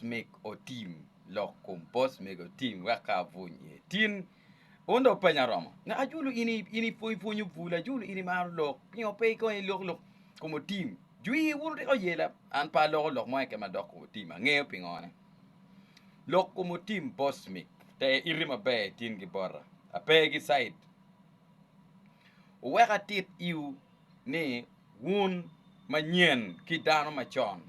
meg otim lok kom boss meg otim wek ka abuny iye tin un dong penya romo ne ajulu in in ipwony pwonyo bul ajulu in imaro lok pingo pe ikong ilok lok kom otim jwir wuru tika oyela an pe aloko lok mo eke madok kom otim angeyo pingo ne lok kom otim boss meg te iti maber itin gi bota ape gi side uwek atit iu ni wun manyen ki dano macon.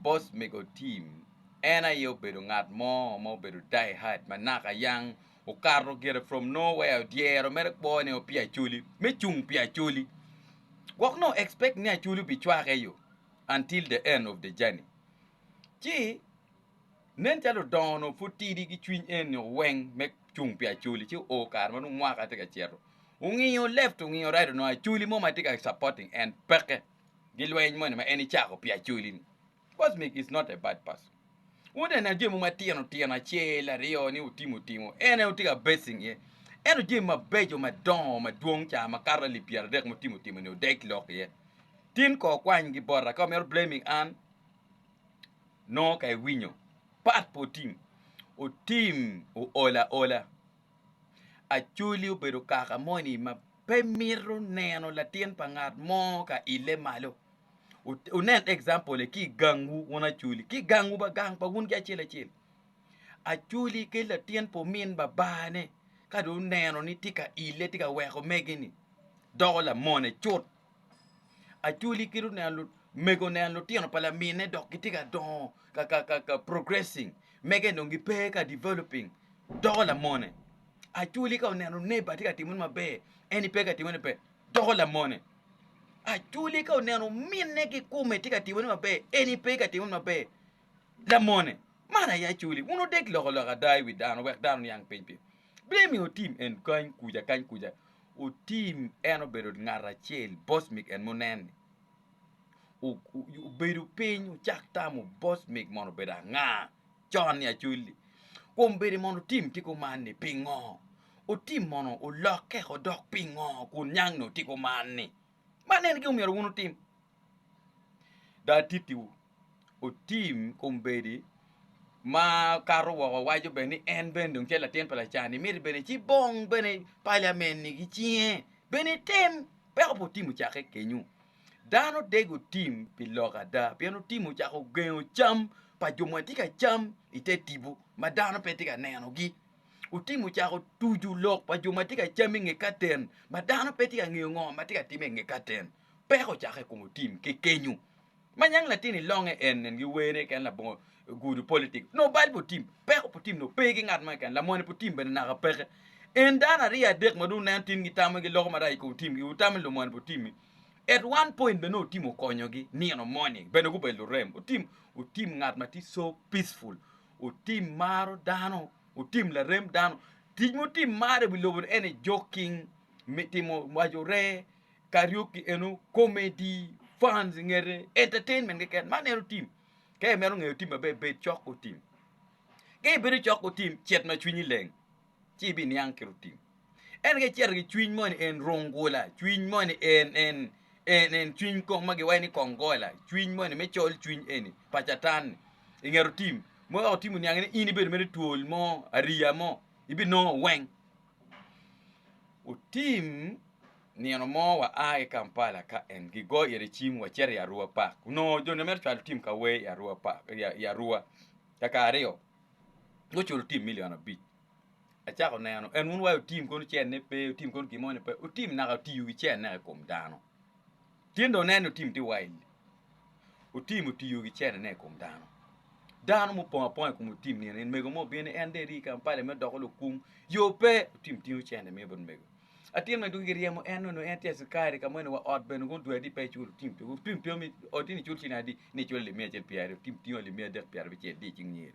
Bot mego Tim, en aye obedo ngat mo ma obedo die-hard ma naka yang okato gire from nowhere dyero mere kwo ne o pi Acholi me cung pi Acholi gwok nongo expect ni Acholi obicwake yo until the end of the journey ci Nen calo ludongo-nu pud tidi ki cwiny eni nio weng me cung pi Acholi ci oo kare ma nongo mwaka tye ka cito. Ongingo left ongingo right onongo Acholi mo ma tye ka supporting en peke gi lweny moni ma en ecako pi Acholi-ni. Cosmic is not a bad person. Wuneno jami mogo matino tino acel aryo ni otimo timo en aye wutye ka basing iye. Ento jami mabeco madongo madwong ca makato alip pyeradek ma otimo timo-ni odeg lok iye. Tin kong kwany gi bota ka omito blaming an. Nongo ka iwinyo pat pa otim, otim ool aola. Acholi obedo kaka moni ma pe mito neno latin pa ngat mo ka ile malo. Wunen example-le ki i gangwu wun Acholi, ki i gangwu ba gang pa wun ki acel acel. Acholi ki latin pa omin babane ka dong oneno ni tye ka ile tye ka weko mege-ni doko lamone cut. Acholi kit oneno mego oneno lutino pa lamine dok gitye ka dongo ka progressing mege dong gipe ka developing doko lamone Acholi ka oneno neighbor tye ka timone maber en pe ka timone maber doko lamone Acholi ka oneno ominne kikome tye ka timone maber en pe ka timone maber lamone Man aye Acholi wun wudek lok ada i wi dano wek dano oniang piny piny. Blim i otim en kany kuca kany kuca. Otim en obedo ngat acel bosmik en munen ni obedo piny ocak tamo bosmik mono obedo anga con ni acolli kun bedi mono otim ti kuman ni pingo otim mono olokke odok pingo kun niang ni otiko man ni man en gin omyero wun otim Dong atittiwu, otim kombeddi ma kato woko waco bene ni en bene dong tye latin pa lacan-ni, miti bene ci bong bene paliamenni ki cinge, bene item, wek obin otim ocakke kenyu. Dano dek otim pi lok ada, pien otim ocako gengo cam pa jo ma watye ka cam i te tipo ma dano pe tye ka nenogi, otim ocako tuco lok pa jo ma tye ka cam i nge katen ma dano pe tye ka ngeyo ngo ma tye ka timme i nge katen. peko ocako i kom otim ki kenyu ma nyang latin i longe en nen gi wer ne ken labongo gudu politic no bal pu tim peko pu tim no pe ki ngat mo ken lamone pu tim bene naka peke en dano ariyo adek ma dong nen tin gi tamo gi loko marac i kom tim gi utamo lumone pu tim mi at one point bene otim okonyo gi nino moni bene gubedo lurem otim otim ngat ma ti so peaceful otim maro dano otim larem dano tic mutim maro i wi lobo ni en ni joking mi timo waco ree Karaoke eno comedy, funs ingete, entertainment keken man eno tim. Ka imito ngeyo tim maber bed cok otim. Ka ibedo cok otim cet ma cwinyi leng ci ibiniang ki rutim. Ento ka icito ki cwiny moni en rungula, cwiny moni en en en en cwiny kong ma giwaco ni kongola, cwiny moni me col cwiny eni pa catan-ni inget otim ma weko tim oniangi ni in ibedo mere twol mo, ariya mo ibinongo weng. Otim Nino mo waa ki Kampala ka en gigoyo ire cim wacito i Arua Park. Onongo joni mito cwalo tim ka wer i Arua Park i Arua kaka aryo. Guculo tim milion abic. Acako neno en wun wa otim kono cene pe, otim kono gin moni pe, otim naka otiyo ki cene naka i kom dano. Tyen dong oneno ni otim tye wild. Otim otiyo ki cene naka i kom dano. Dano mupong aponga i kom otim nino en mego mo obino ni en dong eri i Kampala mito doko lukum. Yo pe, otim tingo cene miyo bot mego. Atin me dugi giryemo en, nongo en tye acikari ka meno wa ot bene gundwero ni pe ecul oting tio. Oting tio mi oti ni cul cini adi ni icule limiya acel pi aryo, oting tingo limiya adek pi arabicel di icing nyeri.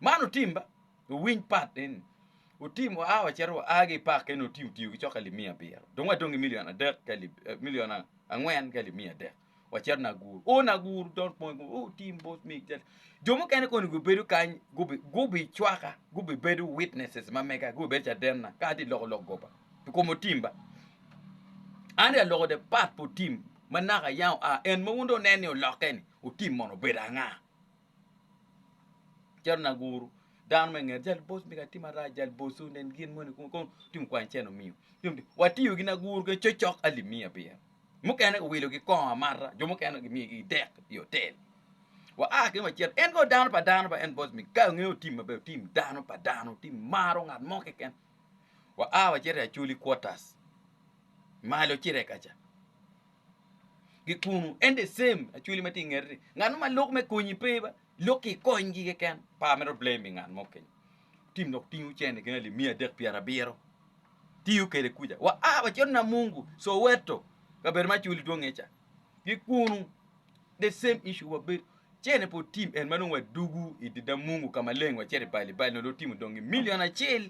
Man otim ba, owiny pat eni. Otim wa a wacito wa a gi i park eni oti otiyo ki coka limiya abiro. Dong wadong ki milion adek ki alib, eh, milion a- angwen ki alib miya adek. wacit nagur o nagur don pong o tim bot mi jo mukene koni gubedo kany gubi cwaka gubi bedo witnesses ma mega gubi bedo cadenna ka ati loko lok goba pi kom otim ba an ya loko de pat po tim ma naka yang a en ma wun do nen ni olokke ni otim mono obedo anga cero nagur dano me nget jal bos mi ka tim ara jal bos o nen gin moni kon tim kwany ceno miyo watiyo gi nagur ke cocok ali miya biya Mukene giwilogi kongo amata, jo mukene gimiyogi dek i otel. Wa a ki macet, en kono dano pa dano ba en boss mi ka ngeyo tim maber, tim dano pa dano, tim maro ngat mo keken. Wa a wacito i Acholi quarters, malo ci rekaca. Gikunu, en the same Acholi ma tye i ngete ni, ngat mo ma lok me konyi pe ba, Lok ki i konygi keken. Par mere obleyo mi ngat mo kenyo tim dok tingu cene gin alip miya adek pyerabiro tiyo kede kuja wa a wa cito Namungu, Soweto, kabedo ma culi dwonge ca ki kunu the same issue wa bedo cene pe otim en ma nongo wa dugu idi Damungu ka maleng wa cito i Bali Bali nongo dong otimo dongi million acel.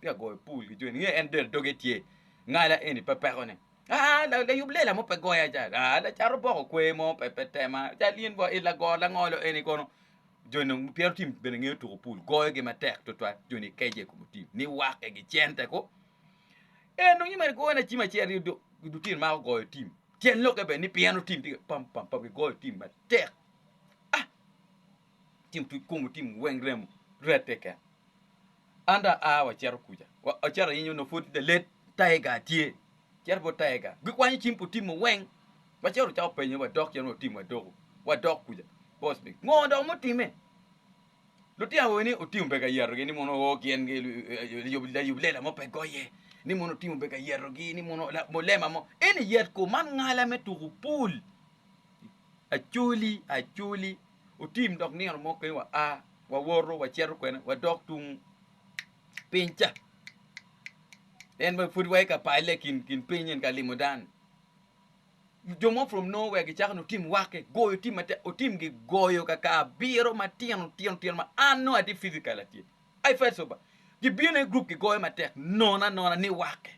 Pe agoyo pul ki joni, nge en del doge tye, ngala eni pe pekone. Aa, layub lela mo pe goya ca, aa, lacato boko kwer mo pe pe tema, cal in bo i lago langolo eni kono. Joni dong twero tim bene ngeyo tuko pul, goyogi matek tutwal, joni kece i kom otim, niwake gi cente ko. En dong nyimene goyo na cim acel aryo dok lutino mako goyo tim, tyen lokke bene ni pien otim tye pam pam pam, gigoyo tim matek. Ah! Tim tuc komu, tim weng remo rette keken. An dong aa waceto kuca, waceto ayinyo nongo pwod lalet tiger tye, cito bot tiger gikwanyo cim pu tim-mu weng, waceto wacako penyo wadok cen watim wadoko, wadok kuca boss me ngo dong mutime? Lutino awobe ni otim omege ayeto gi ni mono oo gin layub lela mo pe goye, ni mono otim omege ayeto gi ni mono mulema mo eni yet ko man ngala me tuku pool, acoli acoli otim dok nino mo kene wa a wawoto wacito kwene wadok tung piny ca en wa pud waye ka pale kin kin piny en ka limo dan jo mo from no where gicako no tim wake goyo tim mate otim gi goyo ka ka abiro matino tino tino ma an no ati physical atye I felt so bad gibino i group gigoyo matek nona nona ni wake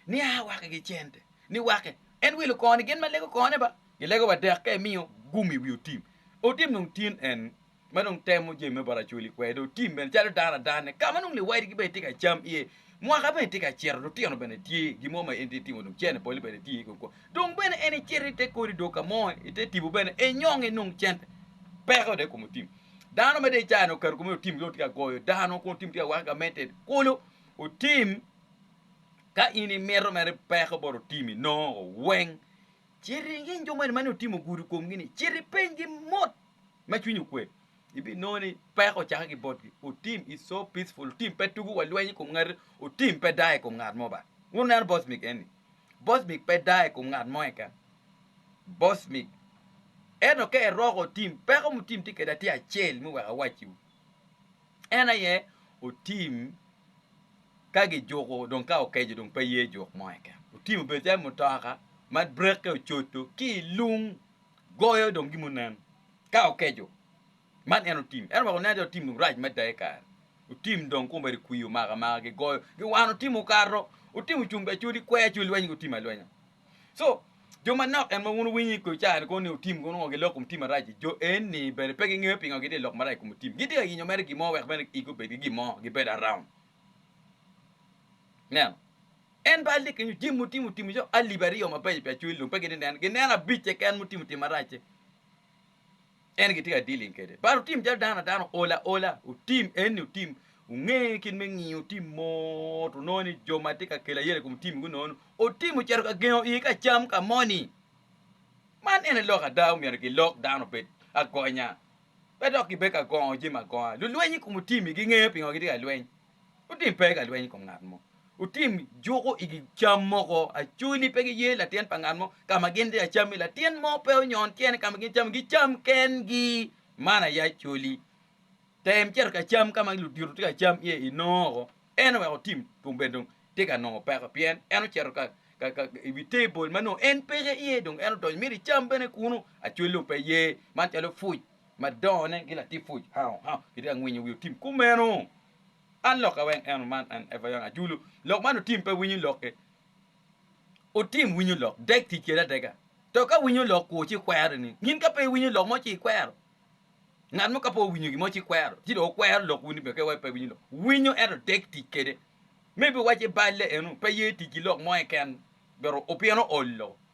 ni a waki gi cente ni waki en wilo kor ni gin ma lego kor ne ba gilego wa dek ka imiyo gum iwi otim otim nung tin en ma nung temo jemi me baracoli kwede otim bene calo dano adan ne kama nung liwadi gi bene tye ka cam iye mwaka bene tye ka cito lutino bene tye gi mo ma en tye timo nung cene poli bene tye ko ko dong bene en icito i te kodi dok ka mo i te tipo bene e nyong i nung cente peko de kom otim dano ma de caya no kar kome otim yo tye ka goyo dano kun otim tye ka waka ka mete kolo otim Ka in imito mere peko bot otimi nongo weng, cit iring in jo moni ma nongo itimo gudo i komgi-ni, cit ipenygi mot ma cwinyi okwe. Ibinongo ni peko ocakke ki botgi, Otim is so peaceful, Otim pe tugo wa lweny i kom ngati, Otim pe dayo i kom ngat mo ba. Wun wuneno bocmik eni? Bocmik pe dayo i kom ngat mo keken. Bocmik. Ento ka eroko Otim, peko mutim tye kwede tye acel, me wek awacciwu. En aye otim ka gijuko dong ka okeco dong pe ye juk mo keken otim obed calo mutoka ma brake ocodo ki lung goyo dong gin munen ka okeco man en otim ento weko nen ni otim dong rac mada ikare otim dong kong bene kwi omako amaka gigoyo giwano timo okato otim ocung bene codi kweyo codi lweny gi otim alwenya. So, jo manok en ma wun wuwinyo i kare-ni kono ni otim kono ongo giloko mutim marac-ci, jo eni bene pe gingeyo pingo gitye ka lok marac i kom otim. Gitye ka yenyo mere gin mo wek bene igi obedgi gin mo, gibed around. Ineno? En bal tye kenyo jami mutimo timo cok alip aryo mabeco pi acwel lum, pe gitye ka neno, gineno abic keken mutimo tim marac-ci. En gitye ka dealing kede but otim calo dano a dano ol aola otim enni otim onge kit me ngiyo otim mot onongo ni jo ma tye ka kelo ayera i kom tim gunongo ni otim ocito ka gengo iye ka cam ka moni man ene lok ada omyero gilok dano obed agonya pe dok gibed ka gongo jami agonga lulweny i kom otimi gingeyo pingo gitye ka lweny Wutim pe ka lweny i kom ngat mo. Wutim juko i gi cam moko acu ni pe giye latin pa ngat mo ka ma gin tye ka cam-mi. Latin mo pe onyon tyene ka ma gin cam-mi, gicam kengi. Man aye acoli. Tem cito ka cam ka ma ludito tye ka cam iye inongo oko. En oweko tim kun bene dong tye ka nongo peko pien en ocito ka i wi tebol ma nongo en peke iye dong en odonyo mito icam bene kunu. Acol dong pe ye man calo puc. ma dongone gi latit pwoc Hao Hao gitye ka ngwinyo wi otim kumeno. An lokke weng eno man en Eva Young Ajulu. Lok man otim pe winyo lokke. Otim winyo lok dek tic kede adega. To ka winyo lok kwo ci kwere ni ngin ka pe winyo lok mo ci ikwero. Ngat mo ka pe owinyo gimo ci kwero. Ci do okwero lok wuni bene ke pe winyo lok. Winyo ento dek tic kede. Maybe waci balle eno pe ye tic ki lok mo eken. Bero opyeno olo.